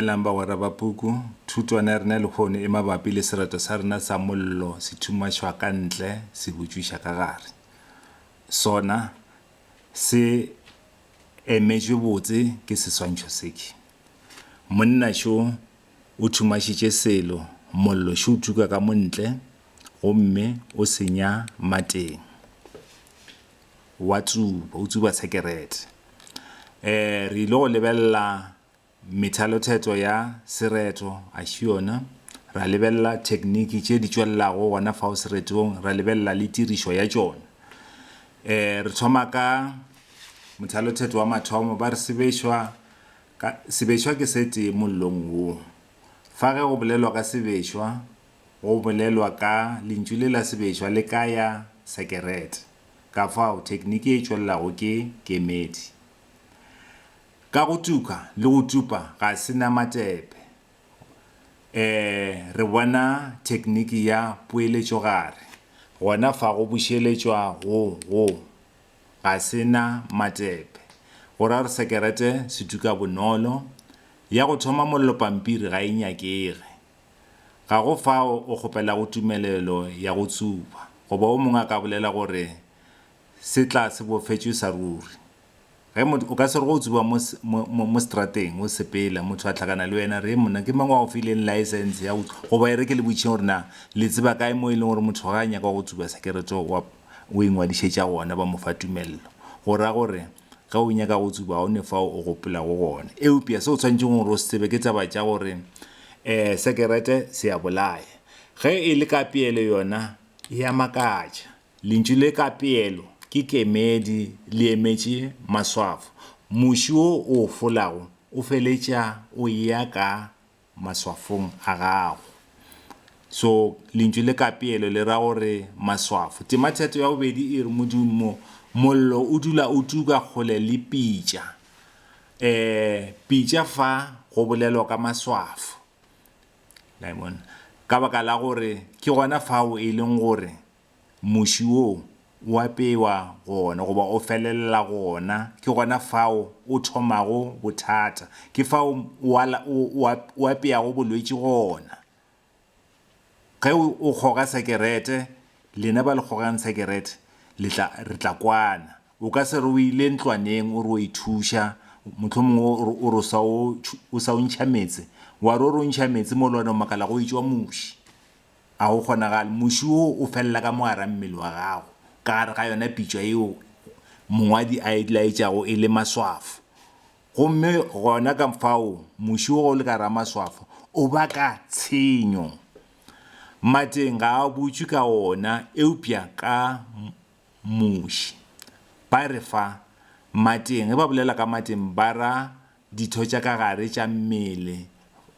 Dumelang bagwera ba puku. Thutwana ya rena lehono e mabapi le sereto sa rena sa mollo se thumašwa ka ntle se butšwiša ka gare. Sona se emetšwe botse ke seswantšho seke. Monna šo o thumašitše selo, mollo šo o tuka ka mo ntle gomme o senya mateng. Wa tsuba, o tsuba sekerete. E, re ile go lebelela. Methalothetso ya sereto, axiona, Ra lebelela thekniki tše di tšwelelago gona fao seretong, ra lebelela le tirišo ya tšona. E Re thoma ka mothalothetso wa mathomo, ba re sebešwa ka, sebešwa ke se tee mollong wo. Fa ge go bolelwa ka sebešwa, go bolelwa ka lentšu le la sebešwa le ka ya sekerete. Kafao, thekniki e tšwelelago ke kemedi. Ka go tuka le go tupa ga se na matepe, ee, re bona thekniki ya poeletšogare gona fa go bušeletšwa go go ga se na matepe, go ra gore sekerete se tuka bonolo. Ya go thoma mollo pampiri ga e nyakege. Ga go fao o kgopelago tumelelo ya go tsuba, goba o mongwe a ka bolela gore se tla se bofetšwe sa ruri. Ge motho, o ka se re ge o tsuba mo, mo, mo, mo strateng, o sepela, motho a hlakana le wena, re, Monna, ke mang wa go fileng laesense ya go, goba e re ke le botšeng gore na le tseba kae mo e leng gore motho ge a nyaka go tsuba sekerete o a, o ingwadišetša gona, ba mo fa tumello. Go ra gore, ge o nyaka go tsuba, ga o ne fao o gopelago gona. Eupša se o swanetšego gore o se tsebe ke taba tša gore, ee, sekerete se a bolaya. Ge e le ka peelo yona, e a makatša. Lentšu le ka peelo ke kemedi le emetše maswafo. Muši wo o o folago o feletša o eya ka maswafong a gago. So, lentšu le ka peelo le ra gore maswafo. Tema theto ya bobedi e re modumo. Mollo o dula o tuka kgole le pitša. E, pitša fa go bolelwa ka maswafo. La e bona? Ka baka la gore ke gona fao e leng gore muši wo o apewa gona goba o felelela gona, ke gona fao o thomago bothata, ke fao o apeago bolwetši gona. Ge o kgoga sekerete, lena ba le kgogang sekerete re tla kwana. O ka se re o ile ntlwaneng o re o a ithuša, mohlomongwe o re o sa o ntšha meetse, wa re o re o ntšha meetse mo le gona o makala go e tšwa muši. Ga go kgonagale. Muši wo o felela ka mogara mmele wa gago, ka gare ga yona pitšwa yeo mongwadi a e laetšago e le maswafo. Gomme gona ka fao muši wo o le ka gare ga maswafo o baka tshenyo. Mateng ga a butšwe ka ona, eupša ka muši. Ba re fa mateng, ge ba bolela ka mateng ba ra ditho tša ka gare tša mmele,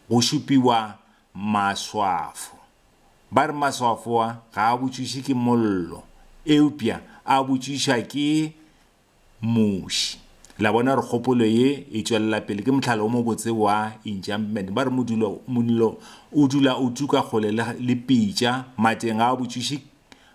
go šupiwa Maswafo. Ba re maswafo a ga a botšišwe ke mollo, eupša a botšišwa ke muši. La bona gore kgopolo ye e tšwelela pele? Ke mohlala o mobotse wa enchantment. Ba re modulo, mollo o dula o tuka kgole le, le pitša, mateng ga a botšišwe,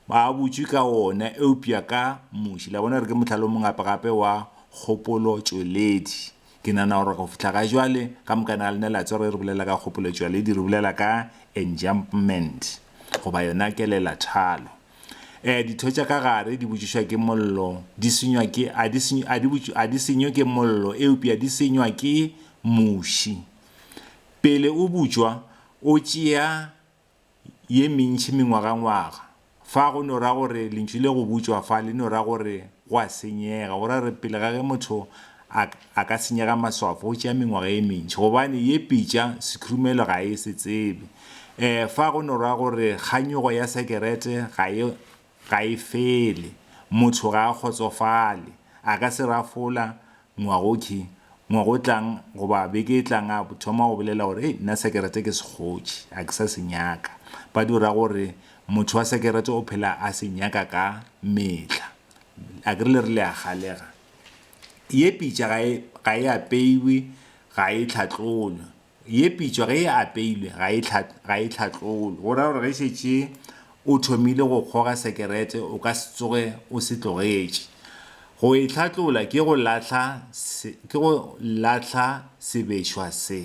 ga a botšwe ka ona, eupša ka muši. La bona gore ke mohlala o mongapagape wa kgopolotšweledi? Ke nagana gore go fihla ga jwale, ka moka na lena le a tseba ge re bolela ka kgopoletšwaledi, re bolela ka enjambment, goba yona kelelathalo. Um ditho tša ka gare di botšišwa ke mollo, di senywa ke, a di senywe, a di botš, a di senywe ke mollo, eupša di senywa ke muši. Pele o butšwa, o tšea. ye mentši mengwagangwaga. Fa go no ra gore lentšu le go butšwa fa le no ra gore go a senyega, go ra gore pele ga ge motho a, a ka senyega maswafo go tšea mengwaga ye mentši, gobane ye pitša sekhurumelo ga e se tsebe. Ee, fa go no ra gore kganyogo ya sekerete ga e, Ga e fele. Motho ga a kgotsofale. A ka se rafola, Ngwagoki, ngwaga o tlang goba beke e tlang a thoma go bolela gore, Hei, nna sekerete ke se kgotše. A ke sa se nyaka. Ba dira gore motho wa sekerete o phela a se nyaka ka mehla. A ke re le re le a galega? Ye pitša ga e, ga e apeiwe, ga e hlatlolwe. Ye pitšwa ge e apeilwe ga e ga e hlatlolwe, go ra gore ge šetše o thomile go kgoga sekerete o ka se tsoge o se tlogetše. Go e hlatlola ke go lahla ke go lahla sebešwa se.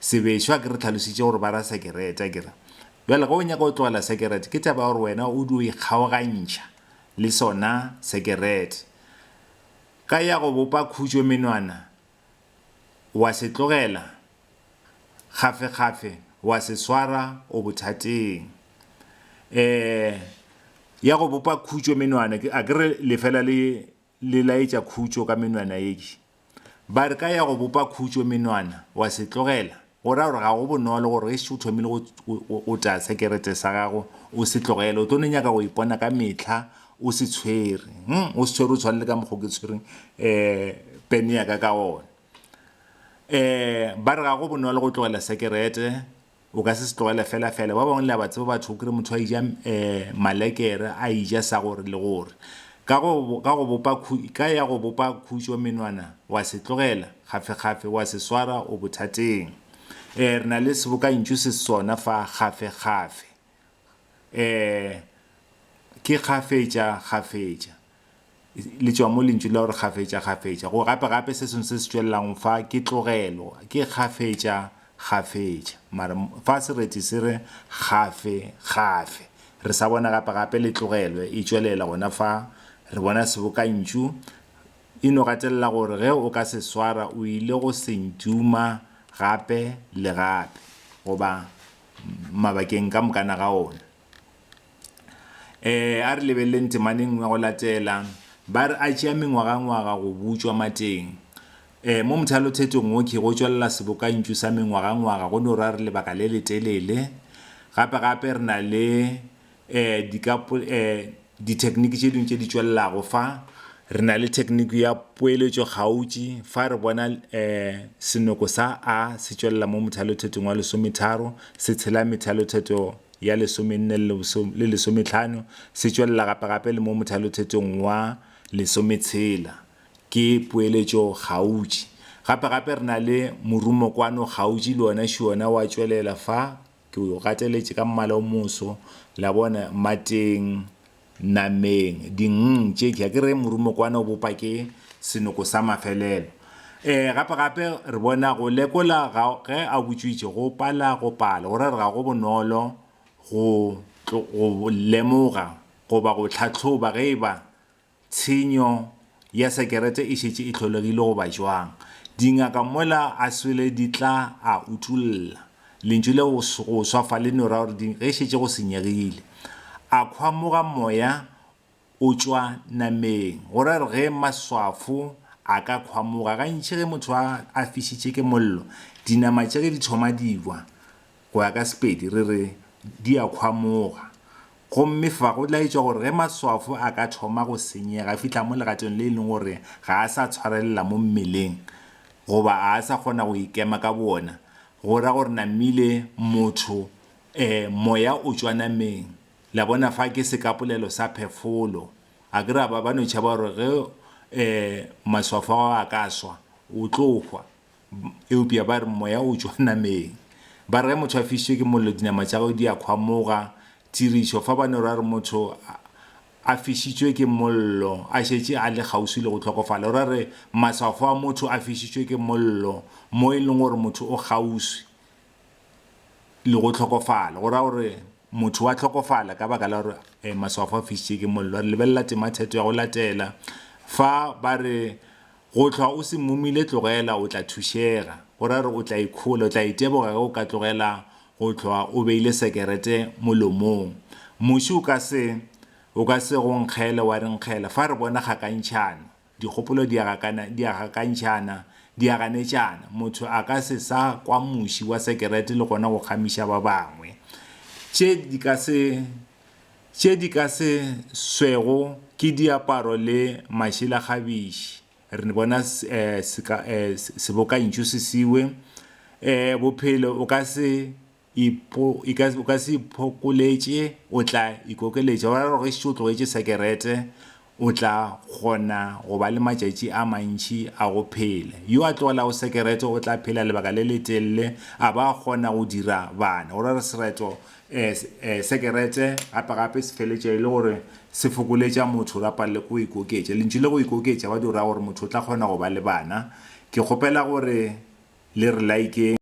Sebešwa ke re tlhalositše gore ba ra sekerete akere. Bjale ge o nyaka go tlogela sekerete ke taba ya gore wena o dio ikgaogantšha le sona sekerete ka ya go bopa khutšo menwana Wa se tlogela, kgafekgafe wa se swara o bothateng. E ya go bopa khutšo menwana, a ke re le fela le le laetša khutšo ka menwana ye. Ba re ka ya go bopa khutšo menwana, wa se tlogela. Go raya gore ga go bonolo gore gešo o thomile go otla sekerete sa gago o se tlogele, o tlo no nyaka go ipona ka mehla o se tshwere, o se tshwere o tshwane le ka mokgwa o ke tshwereng pene ya ka ka gona. Ba re ga go bonolo go tlogela sekerete, o ka se se tlogele felafela. Ba bangwe le a ba tseba batho, o kry-e motho a eja malekere, a eja sa gore le gore. Ka go, ka go bopa khu, ka ya go bopa khutšo menwana, wa se tlogela, gafekgafe, wa se swara o bothateng. Ee, re na le sebokantšu se sona fa, gafekgafe. Ee, ke kgafetša, kgafetša. Le tšwa mo lentšu la gore kgafetša, kgafetša. Go gape, gape se sengwe se se tšwelelago fa, ke tlogelo, ke kgafetša, kgafetša, mara fa sereti se re kgafe, kgafe, re sa bona gape, gape le tlogelwe e tšwelela gona fa, re bona sebokantšu, e no gatelela gore ge o ka se swara o ile go se ntuma gape le gape, goba mabakeng ka mokana ga ona. um a re lebeleleng temana e nngwe ya go latela. Ba re a tšea mengwagangwaga go butšwa mateng. Um mo mothalothetong wo ke go tšwelela sebokantšu sa mengwagangwaga go no ra re lebaka le letelele. Gape-gape re na le um dithekniki tše dingwe tše di tšwelelago fa, re na le thekniki ya poeletšo kgautši fa re bona um senoko sa a se tšwelela mo mothalothetong wa lesometharo se tshela methalothetho ya lesomenne le lesometlhano, se tšwelela gapegape le mo mothalothetong wa lesometshela. Ke poeletšo kgautši. Gapegape re na le morumokwano kgautši le ona šiona wa tšwelela fa, ke o gateletše ka mmala o moso, la bona, mateng nameng, dingng tše mpsha, ke re morumokwane o bopa ke senoko sa mafelelo. E, gape-gape re bona go lekola ga, ge a butšwitše go pala go pala, go ra re ga go bonolo go, go lemoga goba go tlhahloba ge e ba tshenyo ya sekerete e šetše e hlolegile goba jwang, dingaka mola a swele di tla a utolla lentšu le go go swa fa le no ra gore di, ge e šetše go senyegile. A khwamoga moya o tšwa nameng, go ra gore ge maswafo a ka khwamoga, gantši ge motho a a fišitše ke mollo, dinama tša ge di thoma di bwa, Go ya ka Sepedi re re di a khwamoga, gomme fa go laetšwa gore ge maswafo a ka thoma go senyega e fihla mo legatong le e leng gore ga a sa tshwarelela mo mmeleng goba a a sa kgona go ikema ka boona, go ra gore namile motho e, moya o tšwa nameng. La bona fa ke sekapolelo sa phefolo. A ke re a ba ba no tšhaba gore ge e, maswafo ao a ka swa, o tlo hwa? Eupša ba re, Moya o tšwa nameng. Ba re ge motho a fišitšwe ke mollo dinama tša gagwe di a kgwamoga. Tirišo, Fa ba no ra re motho a fišitšwe ke mollo a šetše a le kgauswi le go hlokofala, o ra re maswafo a motho a fišitšwe ke mollo mo e lego gore motho o kgauswi le go hlokofala, go ra gore motho wa hlokofala ka baka la gore maswafo a fišitšwe ke mollo. Re lebelela tematheto ya go latela fa ba re, Go hlwa o se mmomile tlogela o tla thušega, go ra gore o tla ikhola, o tla iteboga ge o ka tlogela go hlwa o beile sekerete molomong. Muši o ka se o ka se go nkgele wa re nkgela, fa re bona kgakantšhano, dikgopolo di a gakana, di a gakantšhana, di a ganetšana, motho a ka se sa kwa muši wa sekerete le gona go kgamiša ba bangwe. Tše di ka se Tše di ka se swego ke diaparo le mašela gabiši. Re bona sebokantšho se sewe, Bophelo o ka se iphokoletše, o tla ikokeletša. Go ra gore o tlogetše sekerete, o tla kgona go ba le matšatši a mantši a go phela. Yo a tlogelago sekerete o tla phela lebaka le letelele a ba a kgona go dira bana. Go ra gore sereto, eh, eh, sekerete gape-gape se feletša e le gore se fokoletša motho ra palelwa ke go ikoketša. Lentšu le go ikoketša ba di go raya gore motho o tla kgona go ba le bana. Ke kgopela gore le re like-eng.